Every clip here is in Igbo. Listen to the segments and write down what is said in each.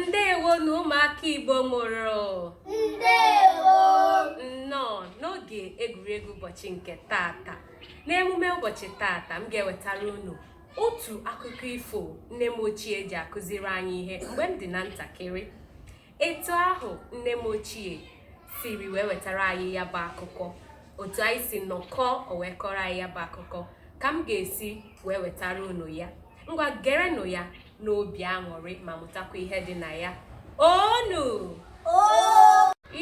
ndewo nụ ụmụaka igbo mụrụ ndewo nnọọ n'oge egwuregwu ụbọchị nke taata n'emume ụbọchị taata m ga-ewetara unu otu akụkọ ifo nne m ochie ji akụziri anyị ihe mgbe m dị na ntakịrị etu ahụ nne m ochie siri wee wetara anyị ya bụ akụkọ otu anyị si nọkọọ o wee kọrọ anyị ya bụ akụkọ ka m ga-esi wee wetara unu ya ngwa gerenụ ya n'obi aṅụrị ma mụtakwa ihe dị na ya onu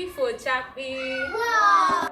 ifo chakpii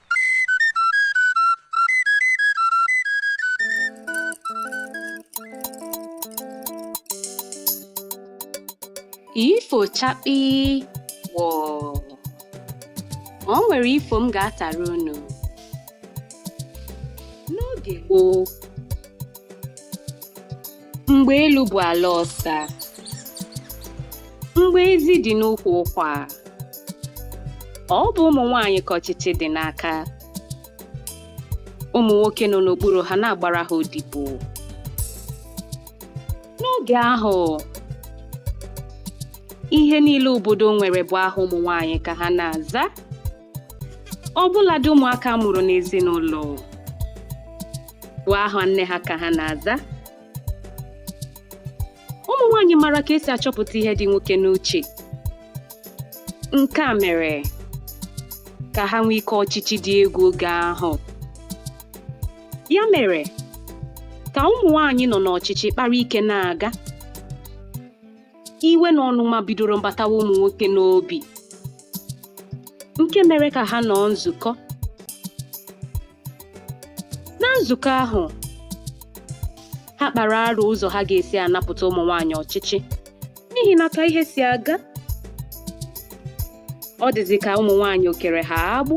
ifo chakpii wọọ o nwere ifo m ga-atara unu n'oge gboo Mgbe elu bụ ala ọsa. Mgbe ezi dị n'ukwu ụkwa. Ọ bụ ụmụ nwaanyị ka ọchịchị dị n'aka. Ụmụ nwoke nọ n'okpuru ha na-agbara ha odibo. N'oge ahụ, ihe niile obodo nwere bụ aha ụmụ nwaanyị ka ha na-aza. ọbụladị ụmụaka a mụrụ n'ezinụlọ bụ aha nne ha ka ha na-aza ụmụ nwaanyị mara ka e si achọpụta ihe dị nwoke n'uche nke a mere ka ha nwee ike ọchịchị dị egwu oge ahụ ya mere ka ụmụ nwaanyị nọ n'ọchịchị kpara ike na-aga iwe na ọnụma bidoro mbatawa ụmụ nwoke n'obi nke mere ka ha nọọ nzukọ na nzukọ ahụ ha kpara arụ ụzọ ha ga-esi anapụta ụmụ nwaanyị ọchịchị n'ihi na ka ihe si aga ọ dịzi ka ụmụ nwaanyị o kere ha agbụ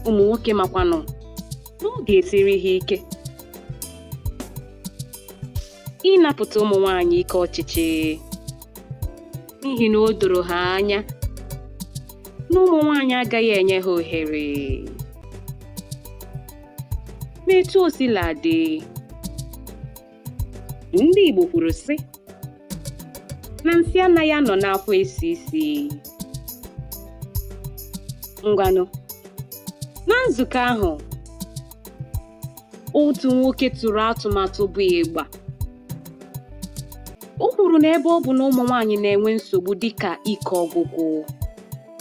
ụmụ nwoke makwanụ n'ọ ga-esiri ha ike ịnapụta ụmụ nwanyị ike ọchịchị n'ihi na o doro ha anya na ụmụ nwanyị agaghị enye ha ohere ma etu o sila dị ndị Igbo kwuru sị na nsị anaghị anọ n'akwa esi isi ngwanụ na nzukọ ahụ otu nwoke tụrụ atụmatụ bụ ịgba o kwuru na ebe ọ bụ na ụmụ nwaanyị na-enwe nsogbu dịka ike ọgwụgwụ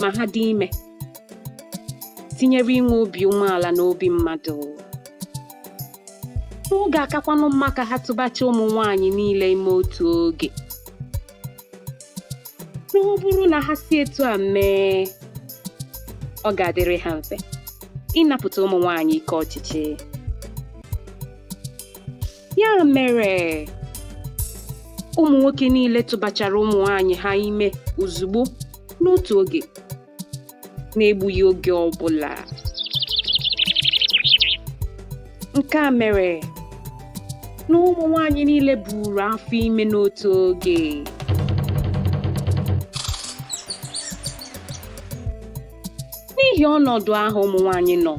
ma ha dị ime tinyere inwe obi umeala na obi mmadụ ọ ga-akakwanụ mma ka ha tụbacha ụmụ nwaanyị niile ime otu oge na ọ bụrụ na ha si etu a mee ọ ga-adịrị ha mfe ịnapụta ụmụ nwanyị ike ọchịchị ya mere ụmụ nwoke niile tụbachara ụmụ nwanyị ha ime ozugbo n'otu oge n'egbughị oge ọbụla nke a mere na ụmụ nwanyị niile buru afọ ime n'otu oge n'ihi ọnọdụ ahụ ụmụ nwanyị nọ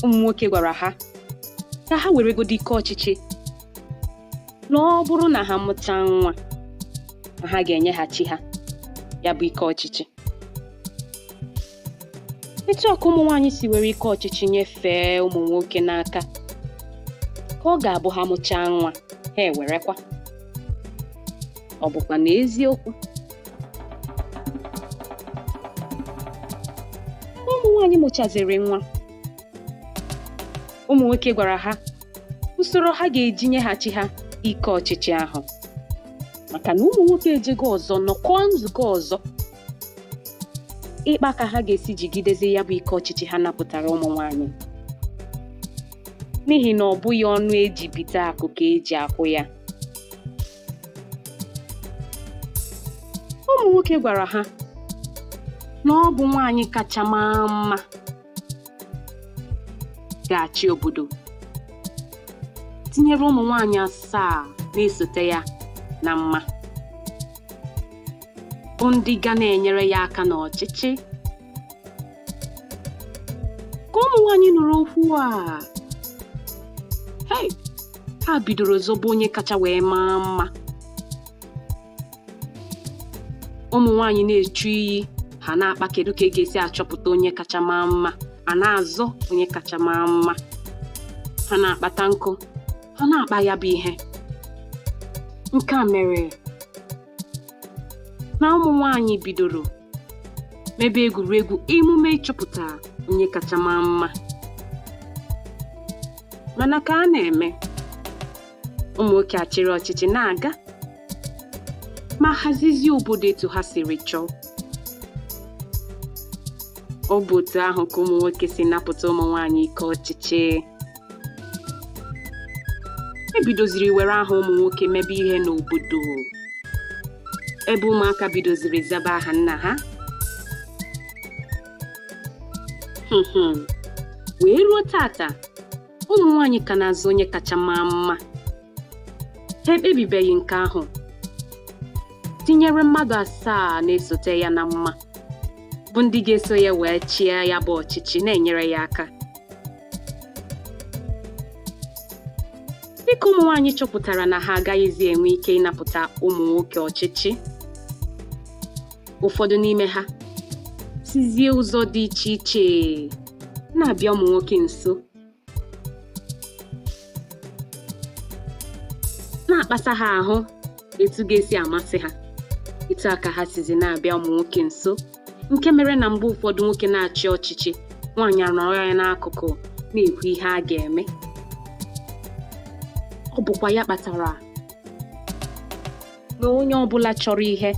ụmụ nwoke gwara ha ka ha weregodi ike ọchịchị na ọ bụrụ na ha mụchaa nwa na ha ga-enyeghachi ha ya bụ ike ọchịchị etu a ka ụmụ nwaanyị si were ike ọchịchị nyefee ụmụ nwoke n'aka ka ọ ga-abụ ha mụchaa nwa ha ewerekwa ọ bụkwa na eziokwu ụmụ nwaanyị mụchaziri nwa ụmụ nwoke gwara ha usoro ha ga-eji nyeghachi ha ike ọchịchị ahụ maka na ụmụ nwoke ejego ọzọ nọkọọ nzukọ ọzọ ịkpa ka ha ga-esi jigidezi ya bụ ike ọchịchị ha napụtara ụmụ nwanyị n'ihi na ọ bụghị ọnụ e ji bite akụ ka e ji akwụ ya ụmụ nwoke gwara ha na ọ bụ nwaanyị kacha maa mma ga-achị obodo tinyere ụmụ nwaanyị asaa na-esote ya na mma bụ ndị ga na-enyere ya aka n'ọchịchị ka ụmụ nwaanyị nụrụ okwu a hei ha bidoro zọbe onye kacha wee maa mma ụmụ nwaanyị na-echu iyi ha na-akpa kedu ka e ga-esi achọpụta onye kacha maa mma a na-azọ onye kacha maa mma ha na-akpata nkụ ha na-akpa ya bụ ihe nke a mere na ụmụ nwaanyị bidoro mebe egwuregwu emume ịchọpụta onye kacha maa mma mana ka a na-eme ụmụ nwoke achịrị ọchịchị na-aga ma hazizie obodo etu ha siri chọọ ọ bụ otu ahụ ka ụmụ nwoke si napụta ụmụ nwaanyị ike ọchịchị e bidoziri were aha ụmụ nwoke mebe ihe n'obodo ebe ụmụaka bidoziri zaba aha nna ha wee ruo taata ụmụ nwaanyị ka na-azọ onye kacha maa mma ha ekpebibeghị nke ahụ tinyere mmadụ asaa na-esote ya na mma bụ ndị ga-eso ya wee chịa ya bụ ọchịchị na-enyere ya aka dịka ụmụ nwaanyị chọpụtara na ha agaghịzi enwe ike ịnapụta ụmụ nwoke ọchịchị ụfọdụ n'ime ha sizie ụzọ dị iche iche na-abịa ụmụ nwoke nso na-akpasa ha ahụ etu ga-esi amasị ha etu a ka ha sizi na-abịa ụmụ nwoke nso nke mere na mgbe ụfọdụ nwoke na-achị ọchịchị nwaanyị anọrọ ya n'akụkụ na-ekwu ihe a ga-eme ọ bụkwa ya kpatara na onye ọbụla chọrọ ihe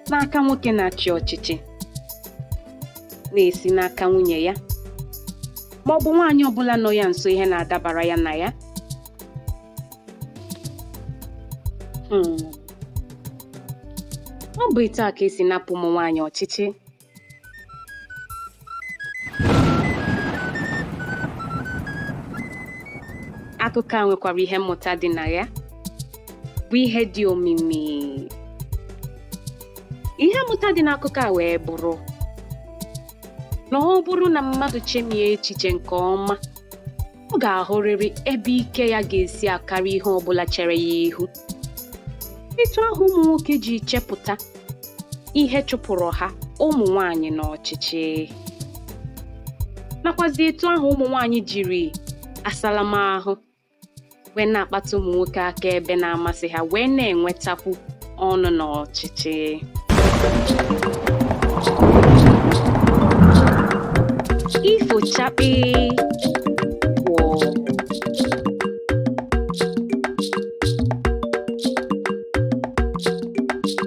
n'aka nwoke na-achị ọchịchị na-esi n'aka nwunye ya ma ọ bụ nwaanyị ọbụla nọ ya nso ihe na-adabara ya na ya hmm. ọ bụ etu a ka e si napụ ụmụ nwaanyị ọchịchị akụkọ a nwekwara ihe mmụta dị na ya bụ ihe dị omimi ihe mmụta dị n'akụkọ a wee bụrụ na ọ bụrụ na mmadụ chemie echiche nke ọma ọ ga-ahụrịrị ebe ike ya ga-esi akarị ihe ọ bụla chere ya ihu etu ahụ ụmụ nwoke ji chepụta ihe chụpụrụ ha ụmụ nwanyị n'ọchịchị nakwazi etu ahụ ụmụ nwanyị jiri asa na mma ahụ wee na-akpata ụmụ nwoke aka ebe na-amasị ha wee na-enwetakwu ọnụ n'ọchịchị ifo chakpii wọọ